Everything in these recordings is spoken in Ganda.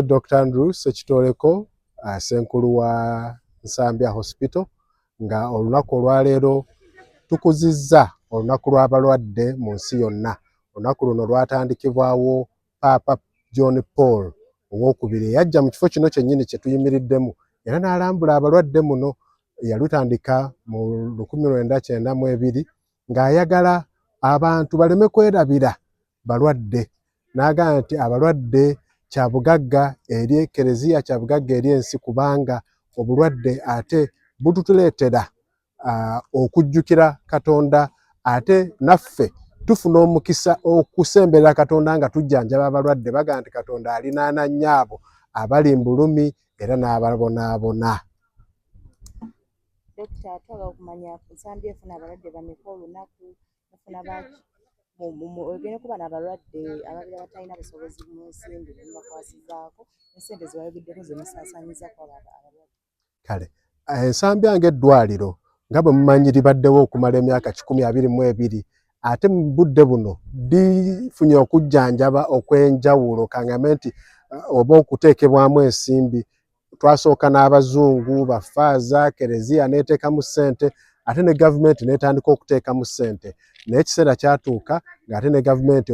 Nze Dr. Andrew Sekitoleko ah, senkulu wa Nsambya Hospital nga olunaku olwaleero tukuzizza olunaku lw'abalwadde mu nsi yonna. Olunaku luno lwatandikibwawo Paapa John Paul owokubiri eyajja mu kifo kino kyennyini kye tuyimiriddemu era n'alambula abalwadde muno yalutandika mu lukumi lwenda kyenda mu ebiri ng'ayagala abantu baleme kwerabira balwadde n'agamba nti abalwadde kya bugagga eri Eklezia, kya bugagga eri ensi kubanga obulwadde ate bututuleetera okujjukira Katonda ate naffe tufuna omukisa okusemberera Katonda nga tujjanjaba abalwadde bagamba nti Katonda alinaana nnyo abo abali mu bulumi era n'ababonaabona. Dokita atwala okumanya nsambye efuna abalwadde bameka olunaku mufuna baki ogende kuba nabalwadde ababira batalina busobozi munsimbi nemubakwasizaako esente zewayogeddeko zemusaasanyiza kwaba abalwadde kale eh, ensambi yange eddwaliro nga bwe mumanyi libaddewo okumala emyaka kikumi abiri mu ebiri ate mu budde buno lifunye okujjanjaba okw'enjawulo kangame nti eh, oba okuteekebwamu ensimbi twasooka n'abazungu bafaaza kereziya n'eteekamu ssente ate ne gavumenti n'etandika okuteekamu ssente naye ekiseera kyatuuka ng'ate ne gavumenti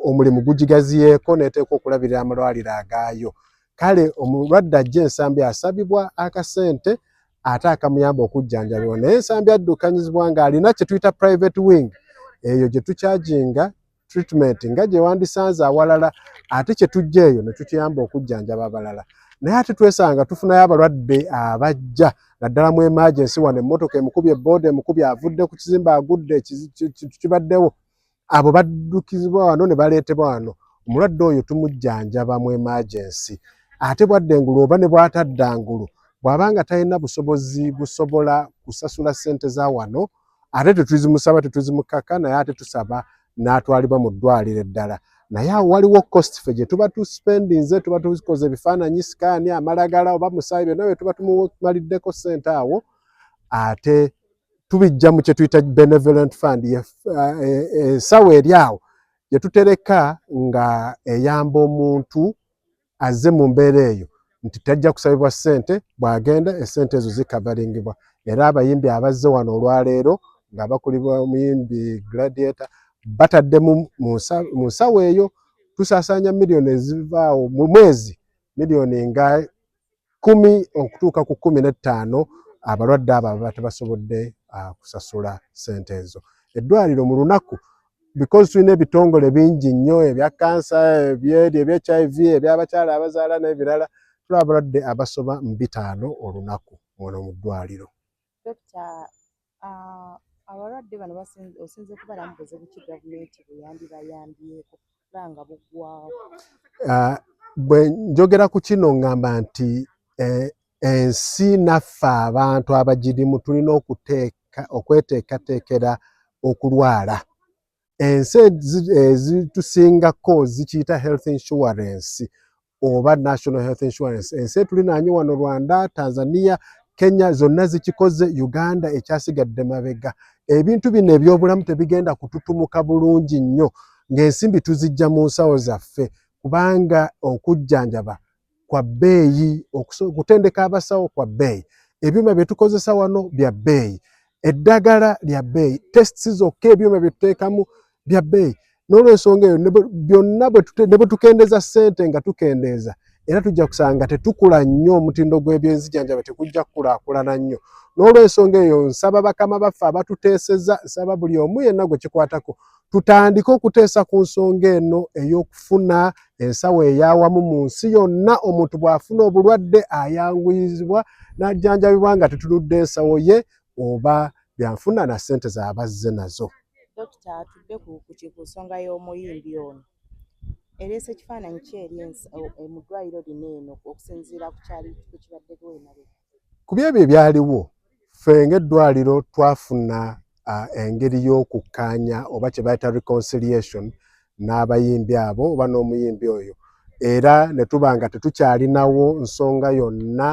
omulimu gugigaziyeeko n'eteeka okulabirira amalwaliro agaayo kale omulwadde ajja ensambi asabibwa akasente ate akamuyamba okujjanjabibwa naye ensambi addukanyizibwa ng'alina kye tuyita private wing eyo gye tukyajinga treatment nga gye wandisanze awalala ate kye tujja eyo ne tukiyamba okujjanjaba abalala naye ate twesanga tufunayo abalwadde abajja naddala mu emergency wano emmotoka emukubye booda emukubye avudde ku kizimba agudde kibaddewo abo baddukizibwa wano ne baleetebwa wano omulwadde oyo tumujjanjaba mu emergency ate bwadde engulu oba ne bwatadda ngulu bw'aba nga talina busobozi busobola kusasula ssente za wano ate tetuzimusaba tetuzimukaka naye ate tusaba n'atwalibwa mu ddwaliro eddala naye awo waliwo cost fe gye tuba tuspendinze tuba tukoze ebifaananyi sikaani amalagala oba musaayi byonna bye tuba tumumaliddeko ssente awo ate tubijja mu kye tuyita benevolent fund eh, eh, ensawo eri awo gye tutereka nga eyamba omuntu azze mu mbeera eyo nti tajja kusabibwa ssente bw'agenda essente ezo zikavaringibwa era abayimbi abazze wano olwaleero nga bakulibwa omuyimbi gladiator batadde mu nsawo eyo tusaasaanya miliyoni ezivaawo mu mwezi miliyoni nga kumi okutuuka ku kumi n'ettaano abalwadde abo ababa tebasobodde ah, kusasula sente ezo eddwaliro mu lunaku because tulina ebitongole bingi nnyo ebya kansa ebyeri ebya hiv ebyabakyala abazaala n'ebirala tula abalwadde abasoba mu bitaano olunaku muno mu ddwaliro Ah, abalwadde bano osinze kubalamu buzibu ki gavumenti bweyandibayambyeko oba nga buggwawo ah, bwe njogera ku kino ngamba nti eh, ensi naffe abantu abagirimu tulina okuteeka okweteekateekera okulwala ensi ezitusingako zikiyita health insurance oba national health insurance ensi etulinanyi wano rwanda tanzania kenya zonna zikikoze uganda ekyasigadde mabega ebintu bino ebyobulamu tebigenda kututumuka bulungi nnyo ng'ensimbi tuzijja mu nsawo zaffe kubanga okujjanjaba kwa bbeeyi okutendeka abasawo kwa bbeeyi ebyuma bye tukozesa wano bya bbeeyi eddagala lya bbeeyi tests zokka ebyuma bye tuteekamu bya bbeeyi n'olwensonga eyo byonna ne bwe tukendeeza ssente nga tukendeeza era tujja kusanga tetukula nnyo omutindo gw'ebyenzijanjaba tekujja kukulaakulana nnyo n'olwensonga eyo nsaba bakama baffe abatuteeseza nsaba buli omu yenna gwe kikwatako tutandike okuteesa ku nsonga eno ey'okufuna ensawo eyawamu mu nsi yonna omuntu bw'afuna obulwadde ayanguyizibwa n'ajjanjabibwa nga tetunudde ensawo ye oba byanfuna na ssente z'abazze nazo Dokita atudde ku ku nsonga y'omuyimbi ono ereese ekifaananyi kye eri e, mu ddwaliro lino eno okusinziira ku kyali ku kibaddeko emabega ku byebyo ebyaliwo ffe ng'eddwaliro twafuna engeri y'okukkaanya oba kye bayita reconciliation n'abayimbi abo oba n'omuyimbi oyo era ne tuba nga tetukyalinawo nsonga yonna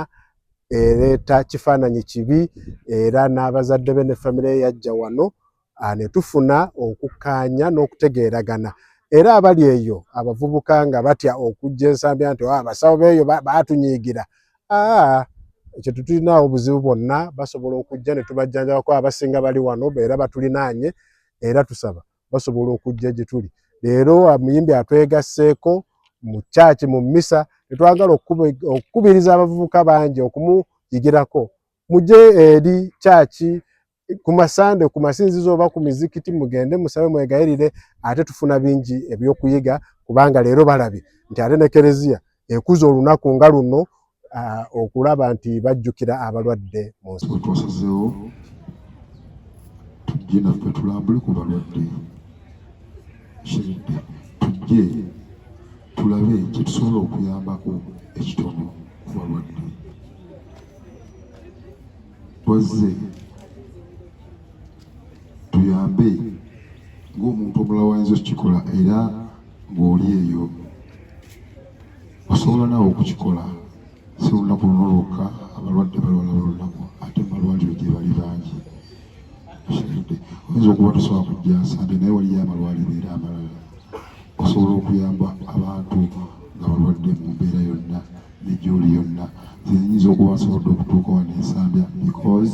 ereeta kifaananyi kibi era n'abazadde be ne famire yajja wano ah, ne tufuna okukkaanya n'okutegeeragana era abali eyo abavubuka nga batya okujja ensambya nti ah, abasawo beeyo batunyiigira ah, ekyo tetulinaawo buzibu bwonna basobola okujja ne tubajjanjabako abasinga bali wano era batulinaanye era tusaba basobola okujja gye tuli leero amuyimbi atwegasseeko mu kyaki mu mmisa netwagala okukubiriza abavubuka bangi okumuyigirako muje eri kyaki ku masande ku masinzizo oba ku mizikiti mugende musabe mwegayirire ate tufuna bingi ebyokuyiga kubanga leero balabye nti ate ne kereziya ekuza olunaku nga luno uh, okulaba nti bajjukira abalwadde mu nsi twasizeewo tujje naffe tulambule ku balwadde kiridde tujje tulabe kyetusobola okuyambako ekitono ku balwadde wazze tuyambe ng'omuntu omulala wayinza okukikola era ng'oli eyo osobola naawe okukikola si lunaku luno lwokka abalwadde balwala bulunaku ate mumalwaliro gye bali bangi okiridde oyinza okuba tosobola kujja nsande naye waliyo amalwaliro era amalala osobola okuyamba abantu nga balwadde mu mbeera yonna negyoli yonna zenyinza okuba nsobodde okutuuka wano ensambya because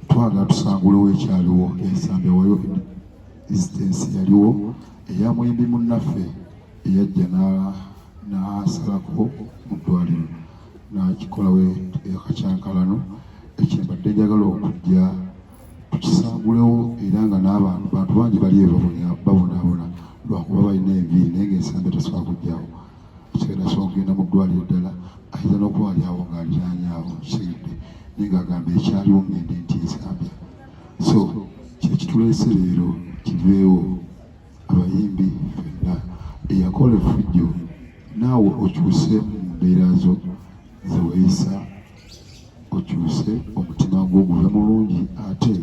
twagala tusangulewo ekyaliwo ensambya wayo existence yaliwo eya mwembi munnaffe eyajja n'asalako mu ddwaliro n'akikolawo ekakyankalano ekyembadde njagala okujja tukisangulewo era nga n'abantu bantu bangi bali babonaabona lwakuba balina enviiri naye ngaensambe tasobola kujjawo ekigenda sobola kugenda mu ddwaliro ddala ayinza n'okuba wali awo ng'aliraanyawo kisigidde naye ng'agamba ekyaliwo ngende nti ensambya so kyekituleese leero kiveewo abayimbi fenna eyakola efujjo naawe okyuse mu mbeera zo zeweyisa okyuse omutima gwo guve mulungi ate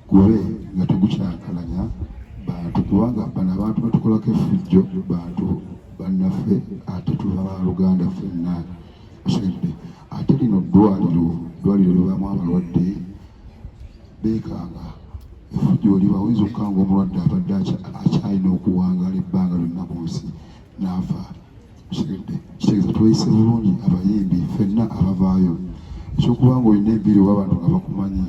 gube nga tegukyakalanya bantu kubanga bano abantu batukolako efujjo bantu bannaffe ate tuba baluganda fenna Kusembye ate lino ddwaliro ddwaliro libaamu abalwadde beekanga efujjo liba oyinza okukanga omulwadde abadde akyalina okuwangaala ebbanga lyonna ku nsi n'afa kusembye kitegeeza tweyise bulungi abayimbi fenna abavaayo ekyokuba nga olina ebbiri oba abantu nga bakumanyi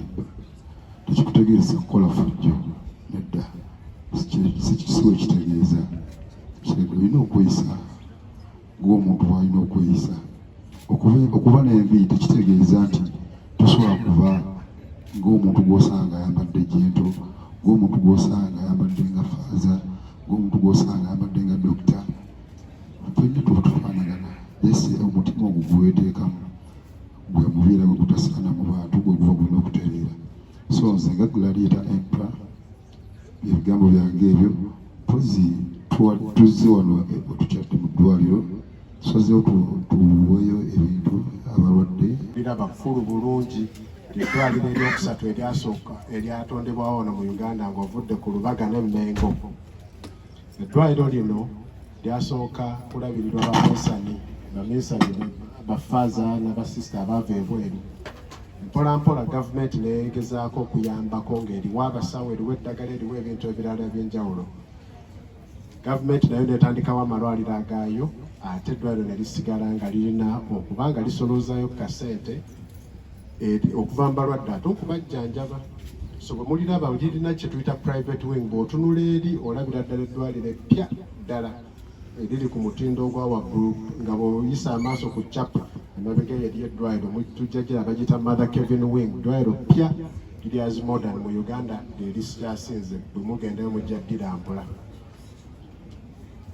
tekikutegeeza kukola fujjo nedda siwe kitegeeza olina okweyisa ng'omuntu bw'alina okweyisa okuba n'envi tekitegeeza nti tosobola kuba ng'omuntu gw'osanga ayambadde jento ng'omuntu gw'osanga ayambadde nga faaza ng'omuntu gw'osanga ayambadde nga dokita fenna tuba tufaanagana ese omutima ogwo gweweteekamu gwe mubeera gwe gutasaana mu bantu gwe guba gulina okutereera so nze nga gulaliita empla ebigambo byange ebyo mpozi tuzze wano otukyadde mu ddwaliro tusazeewo tuweeyo ebintu abalwadde era bakulu bulungi eddwaliro eryokusatu eryasooka eryatondebwawo wano mu uganda ng'ovudde ku lubaga ne mmengo eddwaliro lino lyasooka kulabirirwa baminsani baminsani bafaaza na basisita abaava ebweru mpolampola gavumenti neyegezaako okuyambako ng'eriwa abasawo eriwa eddagala eriwa ebintu ebirala ebyenjawulo gavumenti nayo netandikawo amalwaliro agaayo ate eddwaliro ne lisigala nga lirina okuba nga lisoloozayo ku kasente Eh, okuva mbalwadde ate okubajjanjaba so bwe muliraba lirina kye tuyita private wing bw'otunula eri olabira ddala eddwaliro eppya ddala eriri ku mutindo ogwa waggulu nga bw'oyisa amaaso ku capa emabega yeri eddwaliro tujja gira bagiyita mother kevin wing ddwaliro ppya liryazi modern mu uganda lye lisyasinze bwe mugendayo mujja ddira mpula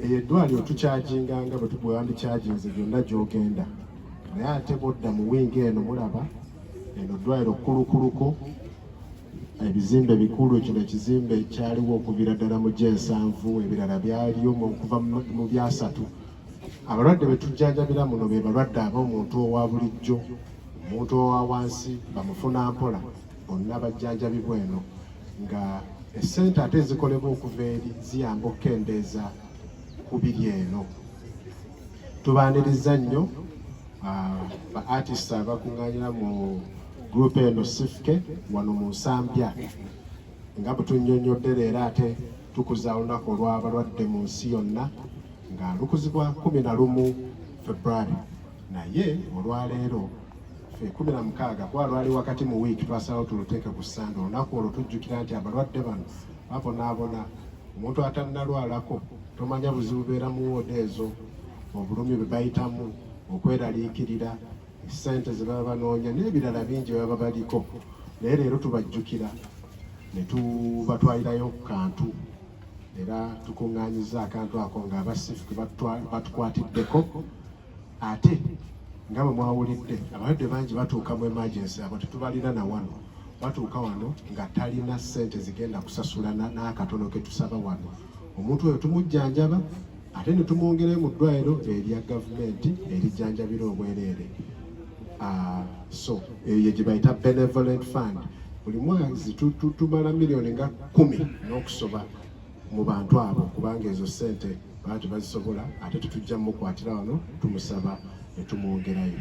eyo eddwaliro tukyaginga nga bwe tugwandi kyaginze gyonna gy'ogenda naye ate bodda mu wingi eno mulaba eno eddwaliro kkulukuluko ebizimbe bikulu kino ekizimbe kyaliwo okuvira ddala mu gyensanvu ebirala byaliyo okuva mu byasatu abalwadde be tujjanjabira muno be balwadde aba omuntu owa bulijjo omuntu owa wansi bamufuna mpola bonna bajjanjabibwa eno nga essente ate ezikolebwa okuva eri ziyamba okukendeeza ku biri eno tubaniriza nnyo ah, ba artist abakuŋŋaanira mu gurupu eno sifuke wano mu nsambya nga butunyonyodde leero ate tukuza olunaku olw'abalwadde mu nsi yonna nga lukuzibwa kumi na lumu february naye olwaleero ffe kumi na mukaaga kuba lwali wakati mu wiiki twasalawo tuluteeke ku ssande olunaku olwo tujjukira nti abalwadde bano babonaabona omuntu atannalwalako tomanya buzibu beera mu wooda ezo obulumi bwe bayitamu okweraliikirira ssente ze baba banoonya n'ebirala bingi baba baliko naye leero tubajjukira ne tubatwalirayo ku kantu era tukuŋŋaanyiza akantu ako ng'abasifu ke batukwatiddeko ate nga bwe mwawulidde abalwadde bangi batuuka mu emergency abo tetubalina na wano batuuka wano nga talina ssente zigenda kusasula n'akatono ke tusaba wano omuntu oyo tumujjanjaba ate ne tumwongerayo mu ddwaliro erya gavumenti erijjanjabira obwereere ah, so eyo gye bayita benevolent fund buli mwezi tumala miliyoni nga kumi n'okusoba mu bantu abo kubanga ezo ssente baba tebazisobola ate tetujja mukwatira wano tumusaba ne tumwongerayo